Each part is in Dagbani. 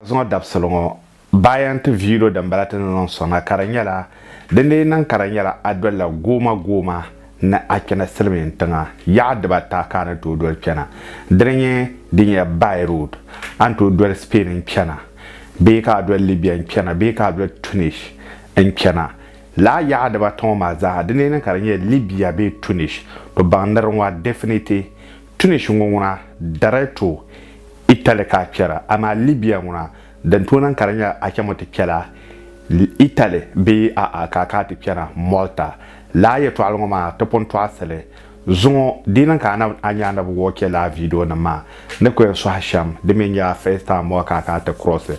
Zuŋɔ dabisili ŋɔ bayan ti viilo dimbala ti ni niŋ soŋda ka di nyɛla din lee niŋ ka di nyɛla a dolila gooma gooma ni a kpɛna silimiin tiŋa yaɣa dibata ka a ni tooi doli kpɛna dini nyɛ din nyɛ by road a ni tooi doli Spain n kpɛna bee ka a doli Libya n kpɛna bee ka a doli Tunis n kpɛna laa yaɣa dibata ŋɔ maa zaaha dini lee niŋ ka di nyɛla Libya bee Tunis to baŋ niriŋɔ definitely Tunis ŋɔ ŋuna darai tooi Italy ka a kpɛra, amaa Libya ŋuna din tooi niŋ ka di nyɛla a chaŋmi ti kpɛla Italy bee a'a ka a kana ti kpɛna Malta. Lala yɛtɔɣili ŋɔ maa ti pun tɔɣisili zuŋɔ di niŋ ka a nya a ni bi wuhi o chɛ lala viidionima maa ni ku yɛn sɔhi shɛm di mi nyɛla first time ɔ ka a kana ti cross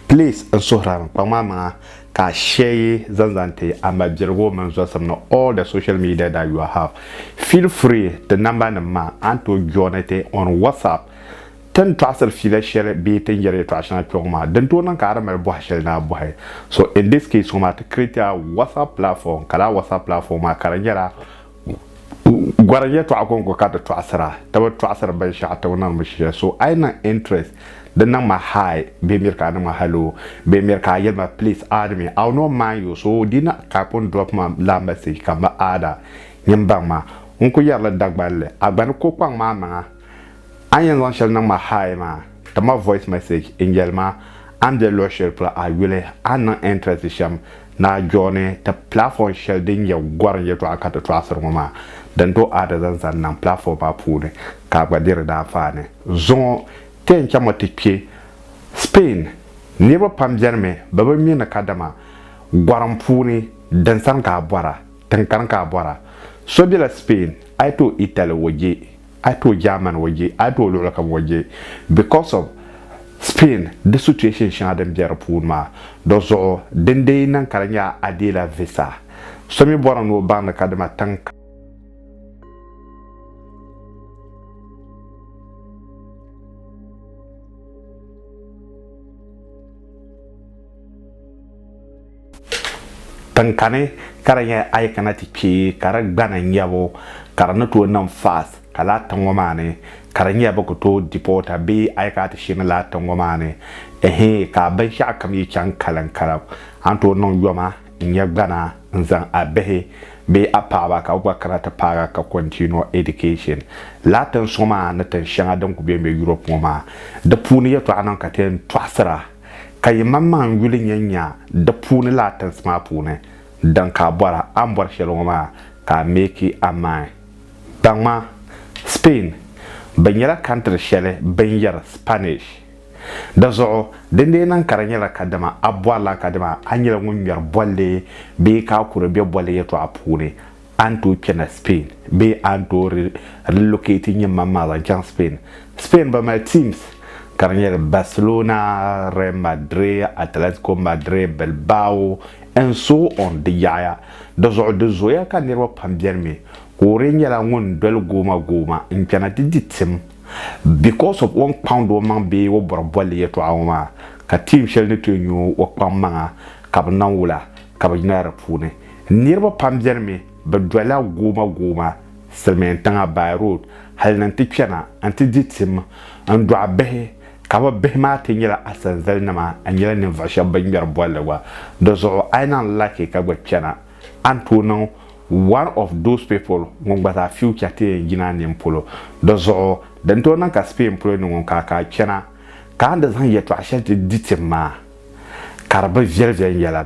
place n suhirimi kpaŋmaamiŋa Ka share zaŋ zaŋ ti a mabirigu mini zɔsim ni all the social media that you have. Feel free ti namba nim maa a ni tooi joini ti on WhatsApp. Ti ni tɔɣisiri fiila shɛli bee ti ni yɛri yɛtɔɣa shɛŋa kpɛŋɔ maa, di ni tooi niŋ ka a di mali bɔha shɛli ni a bɔhi. So in this case ŋɔ maa ti create a WhatsApp platform ka lala WhatsApp platform maa ka di nyɛla Gɔri yɛtɔɣa kɔŋko ka di tɔɣisira ti bi tɔɣisiri binshɛɣu ti o niŋmi shɛli so a yi niŋ interest di niŋma hi bee miri ka a niŋma hello bee miri ka a yelima please add me I'll not mind you so di yi na type n drop ma laa message ka m ba add a nyin baŋ ma n ku yɛri li Dagban li a gba ni ko kpaŋ ma amaŋa a ni yɛn zaŋ shɛli niŋma hi maa ti ma voice message n yelima a ni be luɣi shɛli polo a yuli a ni niŋ interest shɛm Naa Jɔɔni, ti pilaafɔɔn shɛli din nyɛ gɔrim yɛtɔɣa ka ti tɔɣisiri ŋɔ maa, din tooi a di zaŋ zaŋ niŋ pilaafɔɔn maa puuni ka a gba di di daanfaani zuŋɔ. Ti yɛn chaŋmi ti kpe Spain, niriba pam beni mi bɛ bi mi ni kadama gɔrim puuni din sani ka a bɔra, tiŋkani ka a bɔra. So bela Spain a yi tooi Italy o je. a yi tooi Germany o je a yi tooi luɣuli kam o je because of Spain di situation shɛŋa din bɛ di puuni maa di zuɣu din dee yi niŋ ka di nyɛla a deela visa so mi bɔrimi ni o baŋdi ka dama tiŋ Tinkani ka di nyɛ a yi kana ti kpe ka di gbana n-nyɛbu ka di ni tooi niŋ fast ka laa tiŋ ŋɔ maa ni ka di nyɛ bɛ ku tooi deport a bee a yi kana ti sheeni laa tiŋ ŋɔ maa ni ɛhii ka binshɛɣu kam yi chaŋ kalim kalim a ni tooi niŋ yoma n-nyɛ gbana n-zaŋ a bihi bee a paɣaba ka bɛ gba kana ti paag a ka continue education laa tiŋ suŋ maa ni tiŋ shɛŋa din ku be m-be Europe ŋɔ maa di puuni yɛtɔɣa niŋ ka ti yɛn tɔɣisira Ka yimaŋmaŋ n yuli nya nya di puuni laa tinsi maa puuni din ka a bɔra, a ni bɔri shɛli ŋɔ maa ka a meeki a main. Kpaŋma, Spain, bɛ nyɛla kantiri shɛli bɛ ni yɛri Spanish. Di zuɣu, din dee niŋ ka di nyɛla ka dama a bɔrila ka dama a nyɛla ŋun ŋmɛri bolli bee ka a kuri be bolli yɛtɔɣa puuni, A ni tooi kpɛna Spain bee a ni tooi relocate nyɛ maŋ maa zaŋ chaŋ Spain? Spain ba mali teams ka di nyɛ Barcelona, Real Madrid, Atletico Madrid, Bilbao and so on di yaɣaya. Di zuɣu di zooya ka niriba pam beni mi ka o di nyɛla ŋun doli gooma gooma n kpɛna ti di tim because of o ni kpaŋdi o maŋ bee o bɔri bolli yɛltɔɣa ŋɔ maa ka team shɛli ni tooi nyu o kpaŋ maŋa ka bi niŋ wula ka bi yina di puuni. Niriba pam beni mi bɛ dolila gooma gooma silimiin tiŋa by road hali ni nti kpɛna nti di tim n dɔɣi bihi ka bɛ bihi maa ti nyɛla asanzali nima n nyɛla ninvuɣu shɛba bɛ ŋmɛri bolli gba di zuɣu a yi lahi laaki ka gba kpɛna a ni tooi niŋ one of those people ŋun gba zaa future ti yɛn yina a nini polo di zuɣu din tooi niŋ ka Spain polo ni ŋun ka ka a kpɛna ka a ni di zaŋ yɛltɔɣa shɛli ti di tim maa ka di bi viɛli viɛli yɛla.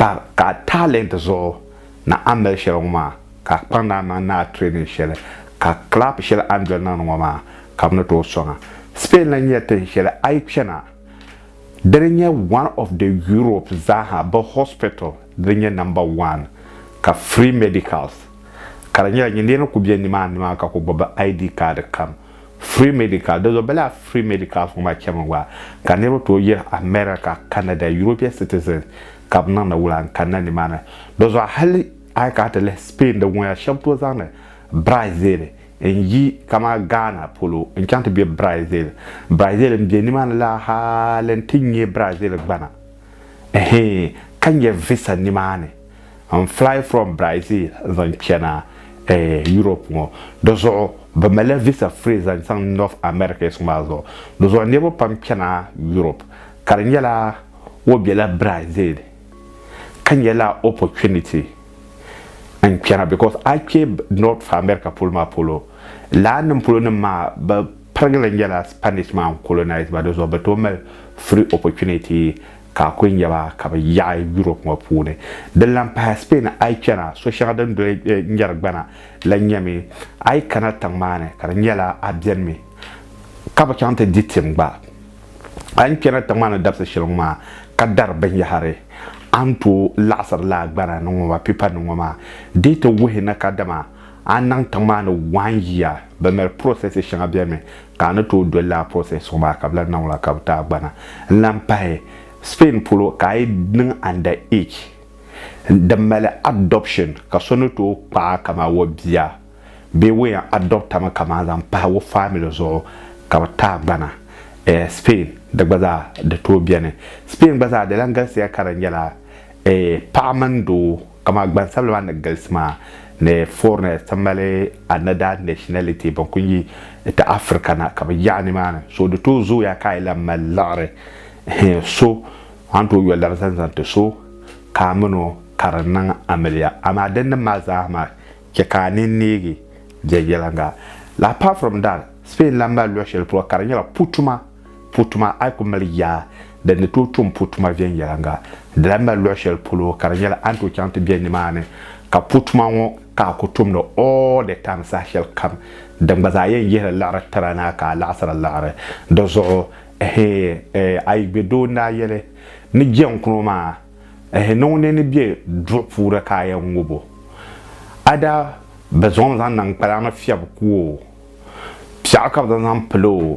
Bar ka a talent zuɣu ni a mali shɛli ŋɔ maa ka a kpaŋ daa maŋ ni a training shɛli ka clap shɛli a ni doli niŋdi ŋɔ maa ka bɛ ni tooi sɔŋ a. Spain lahi nyɛla tin shɛli a yi kpɛna di ni nyɛ one of the Europe zaaha bɛ hospital di ni nyɛ number one ka free medicals ka di nyɛla nyin niriba kuli be nimaani maa ka kuli gbubi bɛ ID card kam Free Medical, Dinzuɣu bɛ lala Free Medicals ŋɔ maa chɛmi gba ka niriba tooi yiri America, Canada, European citizens ka bɛ niŋdi wula n kanna nimaani. Dinzuɣu hali a yi kana ti lihi Spain dinŋuna shɛba tooi zaŋdi Brazil n yi kamani Ghana polo n chaŋ ti be Brazil. Brazil m be nimaani la hali n ti nyɛ Brazil gbana ehe ka nyɛ visa nimaani. n fly from Brazil n zaŋ chana eh, Europe ŋɔ. Di zuɣu bɛ malila visa free zaŋ chaŋ North America yiɣisigu maa zuɣu. Di zuɣu niriba pam chana Europe ka di nyɛla o bela Brazil ka nyɛla opportunity n chana because a kpe North America polo maa polo lana nim polo nim maa bɛ pirigili nyɛla Spanish maa n colonize ba di zuɣu bɛ tooi mali free opportunity ka a kuli nya ba ka bɛ yaɣi Yurop ŋɔ puuni. Din lan pahila Spain a yi chana, so shɛŋa din doli nyari gbana la nyɛmi a yi kana tiŋ maa ni ka di nyɛla a benimi ka bi chaŋ ti di tim gba. A ni chana tiŋ maa ni dabisi shɛli ŋɔ maa ka dari binyɛhiri, a ni tooi laɣisiri lala gbana ni ŋɔ maa, pipa ni ŋɔ maa. Di yi ti wuhi ni kadama a niŋ tiŋ maa ni waan yiya, bɛ mali processes shɛŋa benimi. ka a ni tooi doli lala process ŋɔ maa ka bɛ lahi niŋ la ka bɛ tahigbana n lahi pahi Spain polo ka a yi niŋ under age din mali adoption ka so ni tooi kpaa a kaman o bia bee o yɛn adopt a mi kaman zaŋ pahi o family zuɣu ka bɛ tahigbana eh Spain di gba zaa di tooi beni Spain gba zaa di lahi galisiya ka di nyɛla eh paɣa mini doo Kaman gbansabila maa ni galisi maa ni foreigners ti mali another nationality ban kuli yi ti Africa na ka bɛ yaɣi nimaani so di tooi zooya ka a yi lahi mali liɣiri hee so a ni tooi yo lari zaŋ zaŋ ti so ka a min o ka di niŋ amiliya amaa dinnim maa zaa maa chɛ ka a nini neegi viɛnyɛliŋga la. Apart from that Spain lahi mali luɣ shɛli polo ka di nyɛla putuma. Putuma, a yi ku mali yaa din ni tooi tum putuma viɛnyɛliŋga, di lahi mali luɣ shɛli polo ka di nyɛla a ni tooi chaŋ ti be nimaani ka putuma ŋɔ ka a ku tumdi all the time saha shɛli kam. Din gba zaa yɛn yihiri liɣiri tira ni a ka a laɣisiri liɣiri. Di zuɣu ehe, eh, a yi gbe doo n-daa yɛli ni jɛŋkuno maa ehe, ni ŋuni ni be duɣu puuni ka a yɛn ŋub o, a daa bi zaŋ o zaŋ niŋ kpalaŋ ni fiɛbu ku o. Piɛɣu ka bɛ zaŋ zaŋ pili o,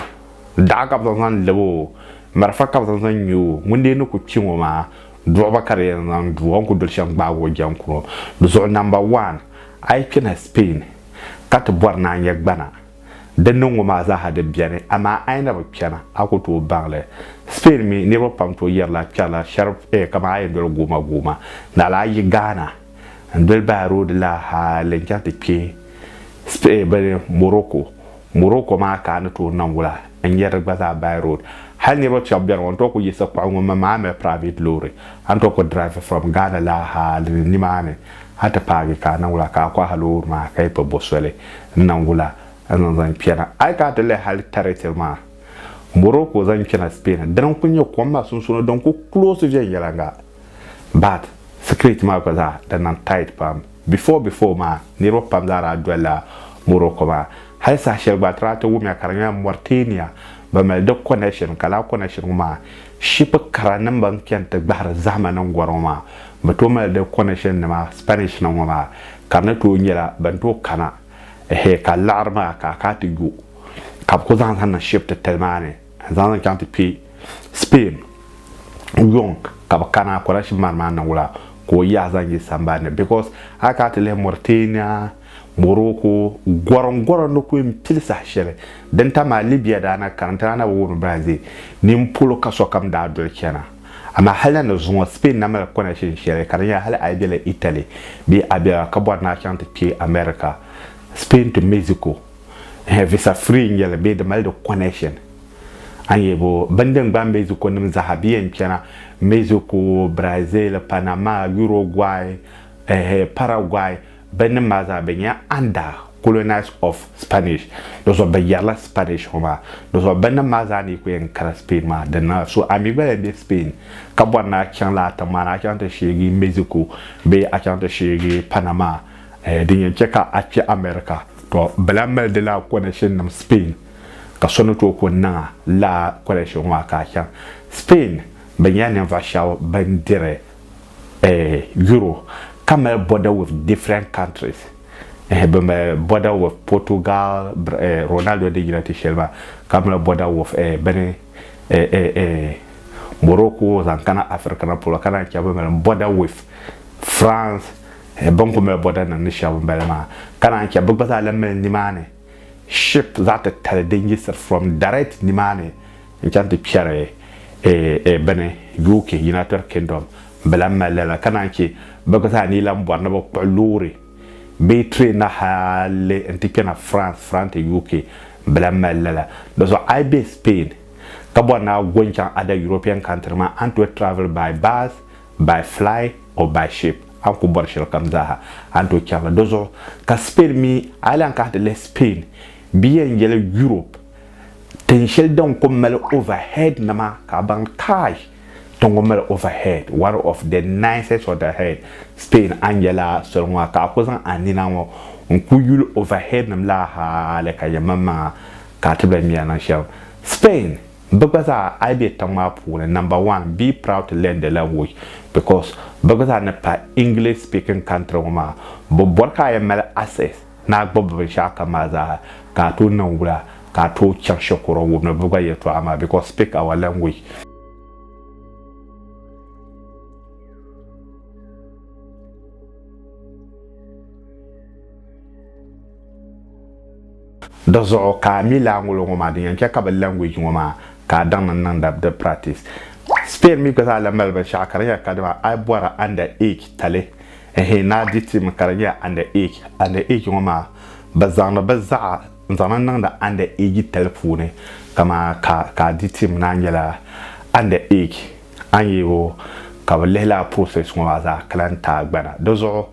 daɣu ka bɛ zaŋ zaŋ lab o, marafa ka bɛ zaŋ zaŋ ŋme o. Ŋun dee ni ku kpi ŋɔ maa, duɣu ba ka di yɛn zaŋ du o. A ni ku doli shɛm gbaag o jɛm kuro. Di zuɣu namba wan, a yi kpina Spain ka ti bɔri ni a nya gbana din niŋ ŋɔ maa zaaha di beni, amaa a yi na bi kpɛna, a ku tooi baŋ li. Spain mi, niriba pam tooi yɛrila kpɛrila shɛri kaman a yɛn doli guuma guuma, naɣila a yi Ghana. n-doli bahi roodi la hal n-chaŋ ti kpe Spain bini Morocco. Morocco maa ka a ni tooi niŋ wula n-nyari di gba zaa by road. Hal niriba shɛba beni ŋɔ n tooi kuli yiɣisi kpuɣi ŋun mi maa mali private loori a ni tooi kuli drive from Ghana la hal ni nimaani a ti paagi ka a niŋ wula ka a kɔhi loori maa ka yi kpe bo soli n-niŋ wula n-zaŋ zaŋ kpɛna. A yi kana ti lihi hal territory maa Morocco zaŋ kpɛna Spain dini n-kuli nyɛ kom maa sunsuuni din kuli close viɛnyɛliŋga. but security maa gba zaa di niŋ tight pam before before maa niriba pam zaa daa doli la Morocco maa hali saha shɛli gba a ti daa ti wum ya ka di nyɛla Mauritania bɛ mali di connection ka lala connection ŋɔ maa ship kara nim ban chani ti gbahiri zahima niŋ gɔri ŋɔ maa bɛ tooi mali di connection nima Spanish nim ŋɔ maa ka di ni tooi nyɛla bɛn tooi kana ehe ka laɣiri maa ka a kana ti yo ka bɛ kuli zaŋ zaŋ niŋ ship titali maa ni. n zaŋ li chaŋ ti kpɛ Spain yuŋ ka bi kana Quraysh mari maa niŋ wula ka o yaɣa zaŋ yi sambani ni because a yi kana ti lihi Mauritania Morocco gɔrim gɔrim ni kuli pili saha shɛli din tam maa Libya daa na kana n ti daa na bi wum baa zɛ nin polo ka sokam daa doli chana amaa hali na ni zuŋɔ Spain na mali connection shɛli ka di nyɛla hali a yi bela Italy bee a bela ka bɔri ni a chaŋ ti kpɛ America Spain to Mexico. Hɛ, visa free n-nyɛ li bee di mali di connection? An yɛ bo bini din gbaai Mexico nim zaaha bɛ yɛn chana Mexico, Brazil, Panama, Uruguay, ɛhɛ, Paraguay bɛ nim maa zaa bɛ nyɛla under colonize of Spanish di zuɣu bɛ yɛrila Spanish ŋɔ maa di zuɣu bɛ nim maa zaa ni yi ku yɛn kara Spain maa din na so a mi gba yɛn bɛ Spain ka bɔri ni a chaŋ lala tiŋ maa ni a chaŋ ti sheegi Mexico bee a chaŋ ti sheegi Panama Din yɛn chɛ ka a kpɛ America, tɔ bɛ lahi mali di laa connection nim Spain, ka so ni tooi ku niŋ a laa connection ŋɔ a ka a chaŋ Spain. Bɛ nyɛla ninvuɣ shɛba bɛn diri Euro ka mali border with different countries. Bɛ mali border with Portugal, Ronaldo din yina ti shɛli maa, ka mali border with bini Morocco zaŋ kana Africa na polo, ka naan chɛ bɛ mali border with France, Bini kuli mali bɔda nim ni shɛb m-bala maa, ka naan chɛ bɛ gba zaa lan mali nimaani ship zaɣ titali din yiɣisiri from direct nimaani n-chaŋ ti kpɛri bini UK, United Kingdom. Bɛ lan mali lala, ka naan chɛ bɛ gba zaa ni yi lan bɔri ni bɛ kpuɣi loori bee train na hali n-ti kpɛna France, France to UK, bɛ lan mali lala. Dizuɣu a yi be Spain ka bɔri ni a go n-chaŋ other European country nima, a ni tooi travel by bus, by fly or by ship a ni ku bɔri shɛlikam zaaha a ni tooi chani la. Dɔzuɣu ka Spain mi a yi lahi kana ti lihi Spain bɛ yɛn yɛli Europe tin shɛli din ku mali overhead nima ka a baŋ kai tin ŋɔ mali overhead one of the nicest overhead Spain a ni yɛla soli ŋɔ ha ka a ku zaŋ a nina ŋɔ n ku yuli overhead nim la hali ka yɛn maŋmaŋa ka a tibila miya niŋ shɛm Spain Bɛ gba zaa a yi be tiŋ maa puuni number one be proud to learn the language because bɛ gba zaa ni pahi English speaking country ŋɔ maa bɛ bɔri ka a yɛn mali access ni a gbubi binshɛɣu kam maa zaa ha ka a tooi niŋ wula ka a tooi chaŋ shikuru wum ni bɛ gba yɛltɔɣa maa because speak our language. Di zuɣu ka a mi laangolo ŋɔ maa din yɛn chɛ ka bɛ language ŋɔ maa ka a daŋdi n niŋda bɛ di practice. Spain mi gba zaa lahi mali binshɛɣu ka di nyɛla ka dama a yi bɔra under age tali ɛhɛn ni a di ti mi ka di nyɛla under age. Under age ŋɔ maa bɛ zaŋdi bɛ zaɣa n zaŋdi niŋdi under age tali puuni kaman ka ka a di tim ni a nyɛla under age a ni yɛ o ka bɛ lihila a process ŋɔ maa zaa ka lahi ti a gbana. Di zuɣu.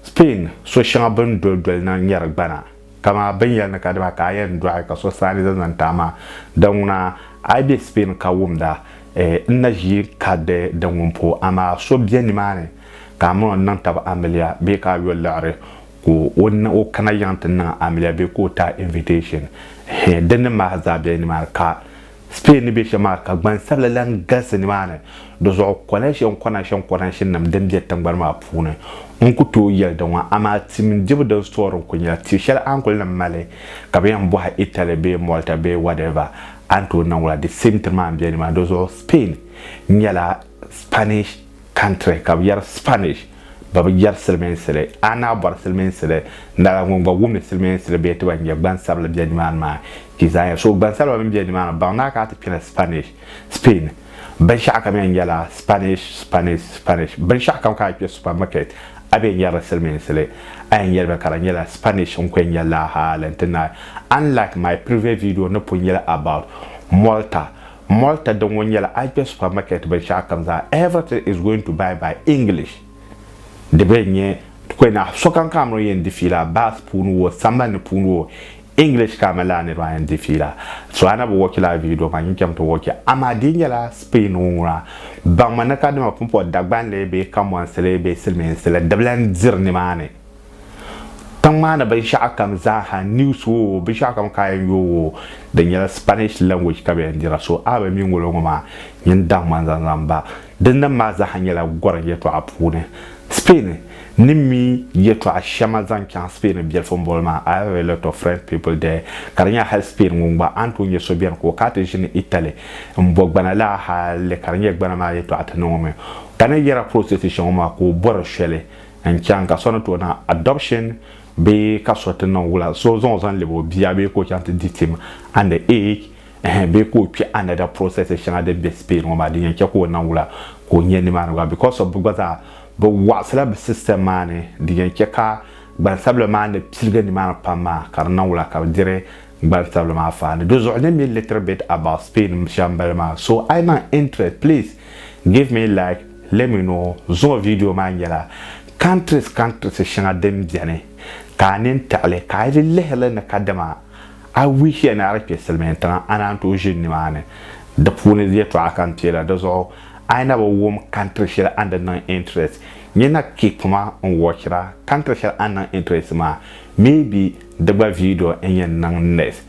Spain so shɛŋa bini doli doli na nyɛri gbana kama bini yɛli ni ka dima ka a yɛn dɔɣi ka so saani zaŋ zaŋ ti a maa di ŋuna a yi bɛ Spain ka wumda eh n na ʒi ka di di ŋun po amaa so bɛ ni maa ni ka a mini o niŋ tabi amiliya bee ka a yo liɣiri ka o ni o kana yiŋ ti niŋ amiliya bee ka o ti a invitation eh di ni maa zaa bɛ ni maa ni ka Spain ni be shɛm maa ka gbansabila lan galisi nimaani. Di zuɣu Coalition Conaction Conaction nim din be tingbani maa puuni n ku tooi yɛli di ŋɔ amaa ti mini dibu din story n ku nyɛla ti shɛli a ni kuli lan mali ka bɛ yɛn bɔhi Italy bee Malta bee whatever a ni tooi niŋ wula di same thing maa n be nimaani. Di zuɣu Spain nyɛla Spanish country ka bi yɛri Spanish ba bi yɛri silimiinsi li a ni a bɔri silimiinsi li lala ŋun gba wumdi silimiinsi li bee ti ba n nyɛ gbansabili bɛ nimaani maa ti zaa yɛli so gbansabila bɛn bɛ nimaani baŋ ni a ka a ti kpɛla Spanish Spain binshɛɣu kam yɛn nyɛla Spanish Spanish Spanish binshɛɣu kam ka a kpɛ supermarket a bɛ nyɛrili silimiinsi li a yɛn nyɛli ba ka di nyɛla Spanish n ku yɛn nyɛ laa hali n ti naai unlike my previous video ni pun yɛli about Malta Malta di ŋɔ nyɛla Asbeh Supermarket binshɛɣu kam zaa Everything is going to buy by English di bɛ nyɛ kpɛna sokam ka amiri yɛn di fiila bus puuni wo sambani puuni wo English ka amiri laa niriba yɛn di fiila so a na bi watch laa video maa nyin chɛmi ti watch amaa di nyɛla Spain ŋɔ ŋuna baŋmi ni kadama pumpɔri Dagbanli bee Kamuansili bee Silimiinsi la di bi lahi diri nimaani Tiŋ maa ni binshɛɣu kam zaa ha, news oo, binshɛɣu kam ka a yɛn yooi oo, di nyɛla Spanish language ka bɛ yɛn dira. So a bi mi ŋolo ŋɔ maa, nyin daŋ ma n-zaŋ zaŋ ba. Di nim maa zaa ha nyɛla gɔrim yɛtɔɣa puuni. Spain ni mi yɛtɔɣa shɛma zaŋ chaŋ Spain biɛlifu boli maa, I have a lot of French people there, ka di nyɛla hali Spain ŋun gba a ni tooi nya so beni ka o ka ti ʒini Italy m-bo gbana la hali ka di nyɛ gbana maa yɛtɔɣa ti niŋ o mi. Ka ni yɛra prostitution ŋɔ maa ka o bɔri shɛli. n chaŋ ka so ni tooi niŋ adoption bee ka so ti niŋ wula so zaŋ o zaŋ lɛbi o bia bee ka o chaŋ ti di tim under age ɛhɛn bee ka o kpɛ another process shɛŋa din bɛ Spain ŋɔ maa din yɛn chɛ ka o niŋ wula ka o nyɛ nimaani gba because of bɛ gba zaa bɛ wɔɣisila bɛ system maa ni din yɛn chɛ ka gbansabila maa ni piligi nimaani pam maa ka di niŋ wula ka bɛ diri gbansabila maa faani di zuɣu let me little bit about Spain shɛm bala maa so a yi niŋ interest please give me like Let me know zuɣu video maa nyɛla countries countries shɛŋa din beni ka a nini taɣili ka a yi lihirili ni kadama a wishia ni a di kpe Silimiin tiŋa a naan tooi ʒini nimaani di puuni yɛltɔɣa ka n teela di zuɣu a yi na bi wum country shɛli a ni di niŋ interest nyɛ na keep ma n watchira country shɛli a ni niŋ interest maa maybe di gba video n yɛn niŋ next